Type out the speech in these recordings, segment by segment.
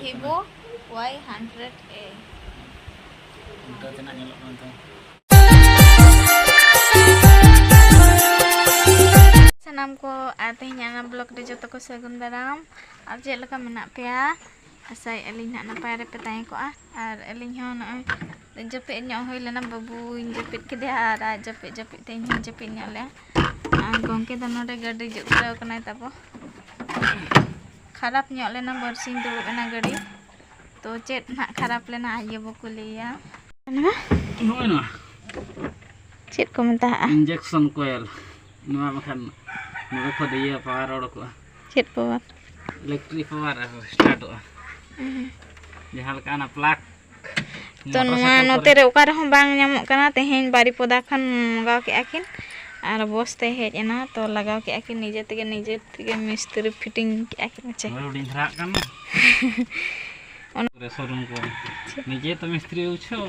ᱵᱷᱤᱵᱳ Y hundred ᱮ ᱩᱞᱴᱟᱹ ᱛᱮᱱᱟᱜ ᱧᱮᱞᱚᱜ ᱠᱟᱱ ᱛᱟᱦᱮᱸ ᱥᱟᱱᱟᱢ ᱠᱚ ᱟᱨ ᱛᱮᱦᱮᱧ ᱟᱱᱟ ᱵᱞᱚᱜ ᱨᱮ ᱡᱚᱛᱚ ᱠᱚ ᱥᱟᱹᱜᱩᱱ ᱫᱟᱨᱟᱢ ᱟᱨ ᱪᱮᱫ ᱞᱮᱠᱟ ᱢᱮᱱᱟᱜ ᱯᱮᱭᱟ ᱟᱥᱟᱭ ᱟᱹᱞᱤᱧ ᱦᱟᱸᱜ ᱱᱟᱯᱟᱭ ᱨᱮᱯᱮ ᱛᱟᱦᱮᱸ ᱠᱚᱜᱼᱟ ᱟᱨ ᱟᱹᱞᱤᱧ ᱦᱚᱸ ᱱᱚᱜᱼᱚᱭ ᱡᱟᱹᱯᱤᱫ ᱧᱚᱜ ᱦᱩᱭ ᱞᱮᱱᱟ ᱵᱟᱹᱵᱩᱧ ᱡᱟᱹᱯᱤᱫ ᱠᱮᱫᱮᱭᱟ ᱟᱨ ᱟᱡ ᱡᱟᱹᱯᱤᱫ ᱡᱟᱹᱯᱤᱫ ᱛᱮ ᱤᱧ ᱦᱚᱸ ᱡᱟᱹᱯᱤᱫ ᱧᱚᱜ ᱞᱮᱭᱟ ᱟᱨ ᱜᱚᱢᱠᱮ ᱫᱚ ᱱᱚᱰᱮ ᱜᱟᱹᱰᱤ ᱡᱩᱛ ᱠᱟᱱᱟᱭ ᱛᱟᱵᱚ ᱠᱷᱟᱨᱟᱯ ᱧᱚᱜ ᱞᱮᱱᱟ ᱵᱟᱹᱨᱥᱤᱧ ᱫᱩᱲᱩᱵ ᱮᱱᱟ ᱜᱟᱹᱰᱤ ᱛᱚ ᱪᱮᱫ ᱱᱟᱜ ᱠᱷᱟᱨᱟᱯ ᱞᱮᱱᱟ ᱟᱡ ᱜᱮᱵᱚ ᱠᱩᱞᱤᱭᱮᱭᱟ ᱱᱚᱜᱼᱚᱭ ᱱᱚᱣᱟ ᱪᱮᱫ ᱠᱚ ᱢᱮᱛᱟᱜᱼᱟ ᱤᱧᱡᱮᱠᱥᱚᱱ ᱠᱚᱭᱮᱞ ᱱᱚᱣᱟ ᱵᱟᱠᱷᱟᱱ ᱱᱚᱰᱮ ᱠᱷᱚᱱ ᱤᱭᱟᱹ ᱯᱟᱣᱟᱨ ᱚᱰᱚᱠᱚᱜᱼᱟ ᱪᱮᱫ ᱯᱟᱣᱟᱨ ᱤᱞᱮᱠᱴᱨᱤᱠ ᱯᱟᱣᱟᱨ ᱥᱴᱟᱨᱴᱚᱜᱼᱟ ᱡᱟᱦᱟᱸ ᱞᱮᱠᱟ ᱚᱱᱟ ᱯᱞᱟᱜᱽ ᱛᱚ ᱱᱚᱣᱟ ᱱᱚᱛᱮ ᱨᱮ ᱚᱠᱟ ᱨᱮᱦᱚᱸ ᱵᱟᱝ ᱧᱟᱢᱚᱜ ᱠᱟᱱᱟ ᱛᱮᱦᱮᱧ ᱵᱟᱨᱤᱯᱚᱫᱟ ᱠᱷᱚᱱ ᱢᱚᱜᱟᱣ ᱠᱮᱜᱼᱟ ᱠᱤᱱ ᱟᱨ ᱵᱚᱥ ᱛᱮ ᱦᱮᱡ ᱮᱱᱟ ᱛᱚ ᱞᱟᱜᱟᱣ ᱠᱮᱜᱼᱟ ᱠᱤᱱ ᱱᱤᱡᱮ ᱛᱮᱜᱮ ᱱᱤᱡᱮ ᱛᱮᱜᱮ ᱢᱤᱥᱛᱨᱤ ᱯᱷᱤᱴᱤᱝ ᱠᱮᱜᱼᱟ ᱠᱤᱱ ᱪᱮ ᱦᱩᱰᱤᱧ ᱫᱷᱟᱨᱟᱜ ᱠᱟᱱᱟ ᱚᱱᱟ ᱥᱳᱨᱩᱢ ᱠᱚ ᱱᱤᱡᱮ ᱛᱚ ᱢᱤᱥᱛᱨᱤ ᱵᱩᱡᱷᱟᱹᱣ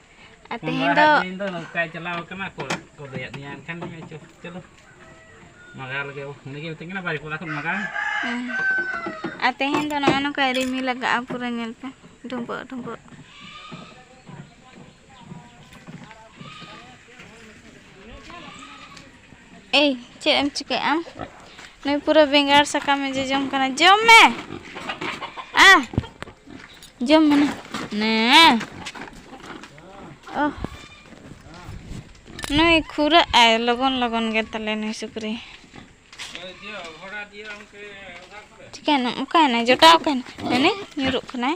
ᱟᱨ ᱛᱮᱦᱮᱧ ᱫᱚ ᱤᱧ ᱫᱚ ᱱᱚᱝᱠᱟᱭ ᱪᱟᱞᱟᱣ ᱠᱟᱱᱟ ᱠᱚ ᱠᱚ ᱞᱟᱹᱭᱟᱫ ᱫᱤᱧᱟ ᱮᱱᱠᱷᱟᱱ ᱪᱚᱞᱚ ᱢᱟᱜᱟᱣ ᱞᱮᱜᱮ ᱩᱱᱤ ᱜᱮ ᱢᱤᱛᱟᱹᱧ ᱠᱟᱱᱟ ᱵᱟᱨ ᱠᱚᱲᱟ ᱠᱷᱚᱱ ᱢᱟᱜᱟᱣ ᱟᱨ ᱛᱮᱦᱮᱧ ᱫᱚ ᱱᱚᱜᱼᱚ ᱱᱚᱝᱠᱟ ᱨᱤᱢᱤᱞ ᱞᱟᱜᱟᱜᱼᱟ ᱯᱩᱨᱟᱹ ᱧᱮᱞ ᱯᱮ ᱰᱩᱸᱵᱟᱹᱜ ᱰᱩᱸᱵᱟᱹᱜ ᱮᱭ ᱪᱮᱫ ᱮᱢ ᱪᱤᱠᱟᱹᱭᱮᱫ ᱟᱢ ᱱᱩᱭ ᱯᱩᱨᱟᱹ ᱵᱮᱸᱜᱟᱲ ᱥᱟᱠᱟᱢᱮ ᱡᱚᱡᱚᱢ ᱠᱟᱱᱟ ᱡᱚᱢ ᱢᱮ ᱟ ᱡᱚᱢ ᱢᱮ ᱱᱮ ᱚ ᱱᱩᱭ ᱠᱷᱩᱨᱟᱹᱜ ᱟᱭ ᱞᱚᱜᱚᱱ ᱞᱚᱜᱚᱱ ᱜᱮ ᱛᱟᱞᱮ ᱱᱩᱭ ᱥᱩᱠᱨᱤ ᱪᱤᱠᱟᱹᱭᱮᱱᱟ ᱚᱠᱟᱭᱮᱱᱟᱭ ᱡᱚᱴᱟᱣ ᱚᱠᱟᱭᱮᱱᱟᱭ ᱦᱟᱱᱮ ᱧᱩᱨᱩᱜ ᱠᱟᱱᱟᱭ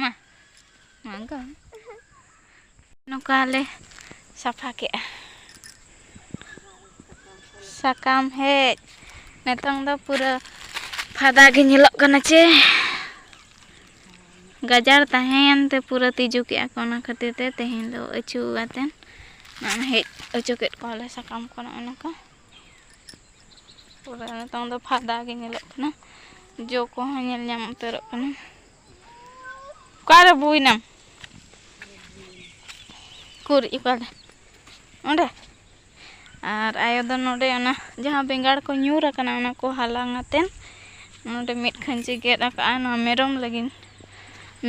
ᱢᱟ ᱱᱚᱝᱠᱟ ᱱᱚᱝᱠᱟᱞᱮ ᱥᱟᱯᱷᱟ ᱠᱮᱜᱼᱟ ᱥᱟᱠᱟᱢ ᱦᱮᱡ ᱱᱤᱛᱚᱝ ᱫᱚ ᱯᱩᱨᱟᱹ ᱯᱷᱟᱫᱟ ᱜᱮ ᱧᱮᱞᱚᱜ ᱠᱟᱱᱟ ᱪᱮ ᱜᱟᱡᱟᱲ ᱛᱟᱦᱮᱸᱭᱮᱱ ᱛᱮ ᱯᱩᱨᱟᱹ ᱛᱤᱡᱩ ᱠᱮᱜᱼᱟ ᱠᱚ ᱚᱱᱟ ᱠᱷᱟᱹᱛᱤᱨ ᱛᱮ ᱛᱮᱦᱮᱧ ᱫᱚ ᱟᱹᱪᱩ ᱠᱟᱛᱮᱱ ᱱᱚᱜᱼᱚᱭ ᱦᱮᱡ ᱚᱪᱚ ᱠᱮᱫ ᱠᱚᱣᱟᱞᱮ ᱥᱟᱠᱟᱢ ᱠᱚ ᱱᱚᱜᱼᱚ ᱱᱚᱝᱠᱟ ᱯᱩᱨᱟᱹ ᱱᱤᱛᱚᱝ ᱫᱚ ᱯᱷᱟᱫᱟ ᱜᱮ ᱧᱮᱞᱚᱜ ᱠᱟᱱᱟ ᱡᱚ ᱠᱚᱦᱚᱸ ᱧᱮᱞ ᱧᱟᱢ ᱩᱛᱟᱹᱨᱚᱜ ᱠᱟᱱᱟ ᱚᱠᱟᱨᱮ ᱵᱩᱭᱱᱟᱢ ᱠᱩᱨ ᱚᱠᱟᱨᱮ ᱚᱸᱰᱮ ᱟᱨ ᱟᱭᱳ ᱫᱚ ᱱᱚᱰᱮ ᱚᱱᱟ ᱡᱟᱦᱟᱸ ᱵᱮᱸᱜᱟᱲ ᱠᱚ ᱧᱩᱨ ᱟᱠᱟᱱᱟ ᱚᱱᱟ ᱠᱚ ᱦᱟᱞᱟᱝ ᱟᱛᱮᱱ ᱱᱚᱰᱮ ᱢᱤᱫ ᱠᱷᱟᱹᱧᱪᱤ ᱜᱮᱫ ᱟᱠᱟᱫᱼᱟ ᱱᱚᱣᱟ ᱢᱮᱨᱚᱢ ᱞᱟᱹᱜᱤᱫ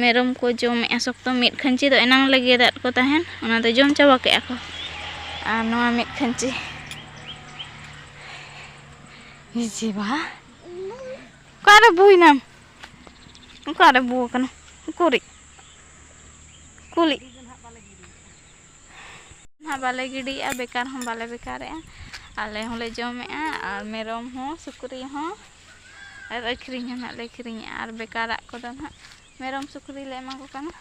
ᱢᱮᱨᱚᱢ ᱠᱚ ᱡᱚᱢᱮᱜᱼᱟ ᱥᱚᱠᱛᱚ ᱢᱤᱫ ᱠᱷᱟᱹᱧᱪᱤ ᱫᱚ ᱮᱱᱟᱝ ᱞᱮ ᱜᱮᱫᱟᱫ ᱠᱚ ᱛᱟᱦᱮᱱ ᱚᱱᱟ ᱫᱚ ᱡᱚᱢ ᱪᱟᱵᱟ ᱠᱮᱫᱼᱟ ᱠᱚ ᱟᱨ ᱱᱚᱣᱟ ᱢᱤᱫ ᱠᱷᱟᱹᱧᱪᱤ ᱦᱤᱡᱤ ᱵᱟᱦᱟ ᱚᱠᱟᱨᱮ ᱵᱩᱭᱱᱟᱢ ᱚᱠᱟᱨᱮ ᱵᱩ ᱟᱠᱟᱱᱟ ᱩᱠᱩᱨᱤᱡ ᱠᱩᱞᱤᱡ ᱦᱟᱸᱜ ᱵᱟᱞᱮ ᱜᱤᱰᱤᱭᱮᱜᱼᱟ ᱵᱮᱠᱟᱨ ᱦᱚᱸ ᱵᱟᱞᱮ ᱵᱮᱠᱟᱨᱮᱜᱼᱟ ᱟᱞᱮ ᱦᱚᱸᱞᱮ ᱡᱚᱢᱮᱜᱼᱟ ᱟᱨ ᱢᱮᱨᱚᱢ ᱦᱚᱸ ᱥᱩᱠᱨᱤ ᱦᱚᱸ ᱟᱨ ᱟᱹᱠᱷᱨᱤᱧ ᱦᱚᱸ ᱱᱟᱜ ᱞᱮ ᱟᱹᱠᱷᱨᱤᱧᱮᱜᱼᱟ ᱟᱨ ᱵᱮᱠᱟᱨᱟᱜ ᱠᱚᱫᱚ ᱱᱟᱜ ᱢᱮᱨᱚᱢ ᱥᱩᱠᱨᱤ ᱞᱮ ᱮᱢᱟ ᱠᱚ ᱠᱟᱱᱟ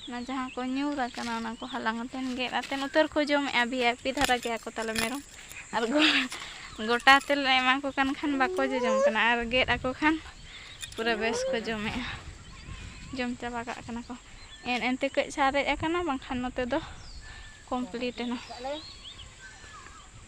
ᱚᱱᱟ ᱡᱟᱦᱟᱸ ᱠᱚ ᱧᱩᱨ ᱟᱠᱟᱱᱟ ᱚᱱᱟ ᱠᱚ ᱦᱟᱞᱟᱝ ᱠᱟᱛᱮᱫ ᱜᱮᱫ ᱠᱟᱛᱮᱫ ᱱᱚᱛᱮ ᱨᱮᱠᱚ ᱡᱚᱢᱮᱜᱼᱟ ᱵᱷᱤ ᱟᱭ ᱯᱤ ᱫᱷᱟᱨᱟ ᱜᱮᱭᱟ ᱠᱚ ᱛᱟᱞᱮ ᱢᱮᱨᱚᱢ ᱟᱨ ᱜᱚᱴᱟ ᱛᱮᱞᱮ ᱮᱢᱟ ᱠᱚ ᱠᱟᱱ ᱠᱷᱟᱱ ᱵᱟᱠᱚ ᱡᱚᱡᱚᱢ ᱠᱟᱱᱟ ᱟᱨ ᱜᱮᱫ ᱟᱠᱚ ᱠᱷᱟᱱ ᱯᱩᱨᱟᱹ ᱵᱮᱥ ᱠᱚ ᱡᱚᱢᱮᱜᱼᱟ ᱡᱚᱢ ᱪᱟᱵᱟ ᱠᱟᱜ ᱠᱟᱱᱟ ᱠᱚ ᱮᱱ ᱮᱱ ᱛᱮ ᱠᱟᱹᱡ ᱥᱟᱨᱮᱡ ᱟᱠᱟᱱᱟ ᱵᱟᱝᱠᱷᱟᱱ ᱱᱚᱛᱮ ᱫᱚ ᱠᱚᱢᱯᱞᱤᱴ ᱮᱱᱟ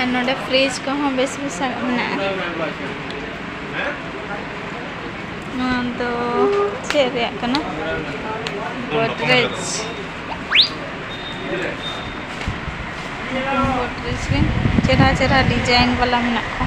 ᱟᱨ ᱱᱚᱰᱮ ᱯᱷᱨᱤᱡᱽ ᱠᱚᱦᱚᱸ ᱵᱮᱥ ᱵᱮᱥ ᱢᱮᱱᱟᱜᱼᱟ ᱱᱚᱣᱟ ᱫᱚ ᱪᱮᱫ ᱨᱮᱭᱟᱜ ᱠᱟᱱᱟ ᱜᱚᱰᱨᱮᱡᱽ ᱜᱚᱰᱨᱮᱡᱽ ᱜᱮ ᱪᱮᱨᱦᱟ ᱪᱮᱨᱦᱟ ᱰᱤᱡᱟᱭᱤᱱ ᱵᱟᱞᱟ ᱢᱮᱱᱟᱜ ᱠᱚᱣᱟ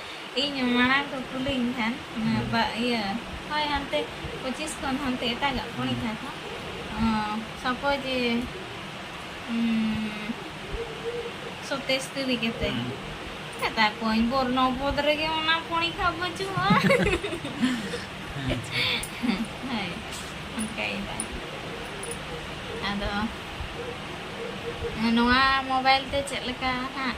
ᱤᱧ ᱢᱟᱲᱟᱝ ᱠᱚ ᱠᱩᱞᱤᱧ ᱠᱷᱟᱱ ᱵᱟ ᱤᱭᱟᱹ ᱦᱳᱭ ᱦᱟᱱᱛᱮ ᱯᱚᱸᱪᱤᱥ ᱠᱷᱚᱱ ᱦᱟᱱᱛᱮ ᱮᱴᱟᱜᱟᱜ ᱯᱚᱨᱤᱠᱷᱟ ᱠᱚ ᱥᱟᱯᱳᱡᱽ ᱥᱚᱛᱮᱥ ᱛᱩᱨᱤ ᱠᱟᱛᱮ ᱢᱮᱛᱟ ᱠᱚᱣᱟᱹᱧ ᱵᱚᱨᱱᱚ ᱯᱚᱫ ᱨᱮᱜᱮ ᱚᱱᱟ ᱯᱚᱨᱤᱠᱷᱟ ᱵᱟᱹᱪᱩᱜᱼᱟ ᱦᱳᱭ ᱚᱱᱠᱟᱭᱮᱫᱟ ᱟᱫᱚ ᱱᱚᱣᱟ ᱢᱳᱵᱟᱭᱤᱞ ᱛᱮ ᱪᱮᱫ ᱞᱮᱠᱟ ᱦᱟᱸᱜ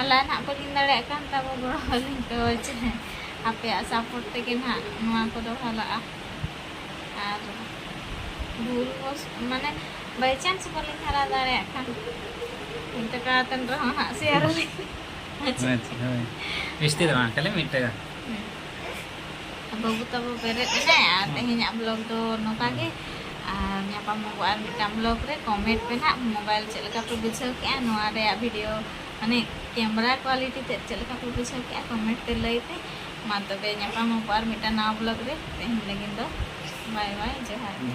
ᱟᱞᱟ ᱱᱟᱜ ᱵᱟᱹᱞᱤᱧ ᱫᱟᱲᱮᱭᱟᱜ ᱠᱟᱱ ᱛᱟᱵᱚ ᱜᱚᱲᱚ ᱟᱹᱞᱤᱧ ᱛᱚ ᱪᱮᱫ ᱟᱯᱮᱭᱟᱜ ᱥᱟᱯᱳᱨᱴ ᱛᱮᱜᱮ ᱱᱟᱜ ᱱᱚᱣᱟ ᱠᱚᱫᱚ ᱦᱟᱞᱟᱜᱼᱟ ᱟᱨ ᱵᱷᱩᱞ ᱵᱚᱥ ᱢᱟᱱᱮ ᱵᱟᱭ ᱪᱟᱱᱥ ᱵᱟᱹᱞᱤᱧ ᱦᱟᱨᱟ ᱫᱟᱲᱮᱭᱟᱜ ᱠᱷᱟᱱ ᱢᱤᱫ ᱴᱟᱠᱟ ᱠᱟᱛᱮᱱ ᱨᱮᱦᱚᱸ ᱦᱟᱸᱜ ᱥᱮᱭᱟᱨ ᱟᱹᱞᱤᱧ ᱟᱪᱪᱷᱟ ᱦᱳᱭ ᱡᱟᱹᱥᱛᱤ ᱫᱚ ᱵᱟᱝ ᱠᱷᱟᱹᱞᱤ ᱢᱤᱫ ᱴᱟᱠᱟ ᱵᱟᱹᱵᱩ ᱛᱟᱵᱚ ᱵᱮᱨᱮᱫ ᱮᱱᱟᱭ ᱟᱨ ᱛᱮᱦᱮᱧᱟᱜ ᱵᱞᱚᱜ ᱫᱚ ᱱᱚᱝᱠᱟ ᱜᱮ ᱟᱨ ᱧᱟᱯᱟᱢ ᱟᱵᱚ ᱟᱨ ᱢᱤᱫᱴᱟᱝ ᱵᱞᱚᱜ ᱨᱮ ᱠᱚᱢᱮᱱᱴ ᱯᱮ ᱱᱟᱜ ᱢᱳᱵᱟᱭᱤᱞ ᱪᱮᱫ ᱞᱮᱠᱟ ᱯᱮ ᱵᱩᱡᱷᱟᱹᱣ ᱠᱮᱜᱼᱟ ᱱᱚᱣᱟ ᱨᱮᱭᱟᱜ ᱵᱷᱤᱰᱤᱭᱳ ᱢᱟᱱᱮ ᱠᱮᱢᱮᱨᱟ ᱠᱳᱣᱟᱞᱤᱴᱤ ᱛᱮᱫ ᱪᱮᱫ ᱞᱮᱠᱟ ᱯᱮ ᱵᱩᱡᱷᱟᱹᱣ ᱠᱮᱜᱼᱟ ᱠᱚᱢᱮᱱᱴ ᱛᱮ ᱞᱟᱹᱭ ᱯᱮ ᱢᱟ ᱛᱚᱵᱮ ᱧᱟᱯᱟᱢ ᱟᱵᱚ ᱟᱨ ᱢᱤᱫᱴᱟᱝ ᱱᱟᱣᱟ ᱵᱞᱚᱜ ᱨᱮ ᱛᱮᱦᱮᱧ ᱞᱟᱹᱜᱤᱫ ᱫᱚ ᱵᱟᱭ ᱵᱟᱭ ᱡᱚᱦᱟᱨ ᱜᱮ